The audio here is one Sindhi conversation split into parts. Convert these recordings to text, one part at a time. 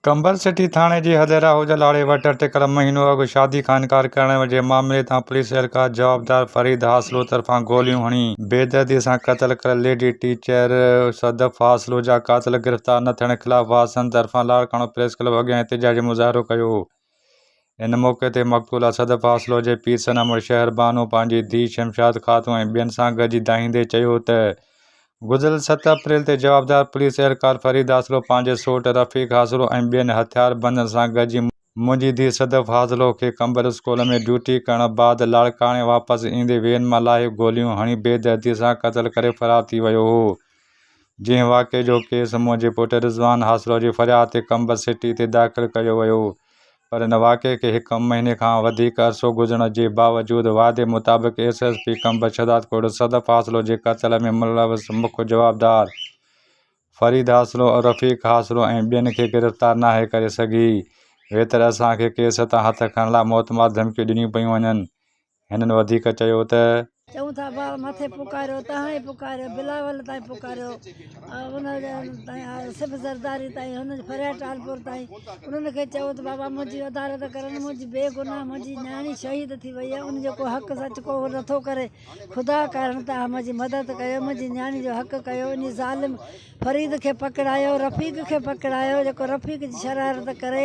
ٽنبل سٽي ٿاڻي جي حد راهوجا لاڙي وٽ اٽڪل مهينو اڳ شادي خانڪار ڪرڻ جي معاملي تان پوليس اهلڪار جوابدار فريد حاصلو طرفان گوليون هڻي بيدردي سان قتل ڪريل ليڊي ٽيچر صدف حاصلو جا قاتل گرفتار نه ٿيڻ خلاف وارثن طرفان لاڙڪاڻو پريس ڪلب اڳيان احتجاجي مظاهرو ڪيو ان موقعي تي مقتول اسد فاصلو جي پير صنعمل شهر بانو پنهنجي ڌيء شمشاد خاتون ۽ ٻين سان گڏجي دانهيندي چيو ته گذريل ست اپريل تي جوابدار پوليس اهلڪار فريد حاصلو پنهنجي سوٽ رفيق حاصلو ۽ ٻين هٿيار بندن سان گڏجي منهنجي ڌيء صدف حاصلو کي قمبر اسڪول ۾ ڊيوٽي ڪرڻ بعد لاڙڪاڻي واپس ايندي وين مان لاهي گوليون هڻي بي دردي سان قتل ڪري فرار ٿي ويو هو. جنهن واقعي جو ڪيس منهنجي پٽ رضوان حاصلو جي فرياد تي قمبر سٽي تي داخل ڪيو ويو پر ان واقعي کي هڪ مهيني کان وڌيڪ عرصو گذرڻ جي باوجود وعدي مطابق S S P Qambar Shahdadkot Sadaf حاصلو جي قتل ۾ ملوث مک جوابدار فريد حاصلو، رفيق حاصلو ۽ ٻين کي گرفتار ناهي ڪري سگهي ويتر اسان کي ڪيس تان هٿ کڻڻ لاء موتمار ڌمڪيون ڏنيون پيون وڃن. هنن وڌيڪ چيو ته. چون ٿا بار مٿي پڪاريو تهان ئي پڪاريو بلاول تائين پڪاريو ان تائين آيو صف زرداري تائين هن جي فريا ٽالپور تائين انهن کي چئو ته بابا منهنجي عدالت ڪرن منهنجي بي گناهه منهنجي نياڻي شهيد ٿي وئي آهي ان جو ڪو حق سچ ڪو نٿو ڪري خدا ڪارڻ تهان منهنجي مدد ڪيو منهنجي نياڻي جو حق ڪيو انهي ظالم فريد کي پڪڙايو رفيق کي پڪڙايو جيڪو رفيق جي شرارت ڪري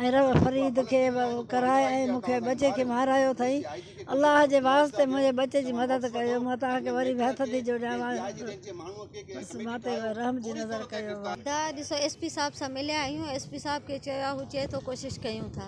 ۽ فريد کي ڪرائي ۽ مون کي ٻچي کي مارايو اٿئي الله جي واسطي منهنجي ٻچي جي مدد ڪيو مان توهان کي وري به هٿ ٿي جوڙيان بس مان تي رحم جي نظر ڪيو ته ڏسو ايس پي صاحب سان مليا آهيون ايس پي صاحب کي چيو آهي هو چئي ٿو ڪوشش ڪيون ٿا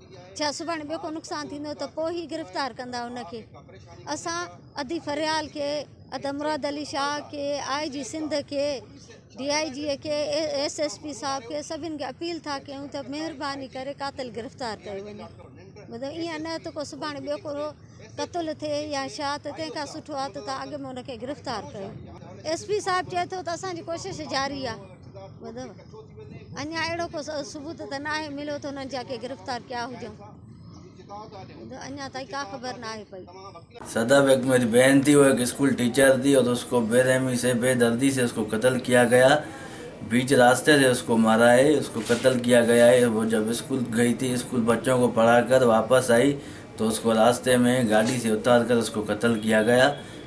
ڇا سڀاڻي ٻيو ڪو نقصان ٿيندو ته پوء هي گرفتار ڪندا ان کي اسان ادي فريال کي ادا مراد علي شاهه کي آء جي سنڌ کي ڊي آء جي کي ايس ايس پي صاحب کي سڀن کي اپيل ٿا ڪيون ته مهرباني ڪري قاتل گرفتار ڪيو وڃي مطلب ائين نه ته ڪو سڀاڻي ٻيو ڪو قتل ٿئي يا شاهه ته تنهن کان سٺو آ ته تان اڳ ۾ ان کي گرفتار ڪيو ايس پي صاحب چئي ٿو ته اسان جي ڪوشش جاري آ اڃان اهڙو ڪو ثبوت ته ناهي مليو ته انهن جا ڪي گرفتار ڪيا هجن ته اڃان تائين ڪا خبر ناهي پئي. سدا بيگ ميري بهن ٿي هوء هڪ اسڪول ٽيچر ٿي اور اس ڪو بي رحمي سي بي دردي سي اس ڪو قتل ڪيا گيا بيچ راسته سي اس ڪو مارا هي اس ڪو قتل ڪيا گيا هي وو جب اسڪول گئي ٿي اسڪول بچو ڪو پڙها ڪر واپس آئي تو اس ڪو راسته مي گاڏي سي اتار ڪر اس ڪو قتل ڪيا گيا.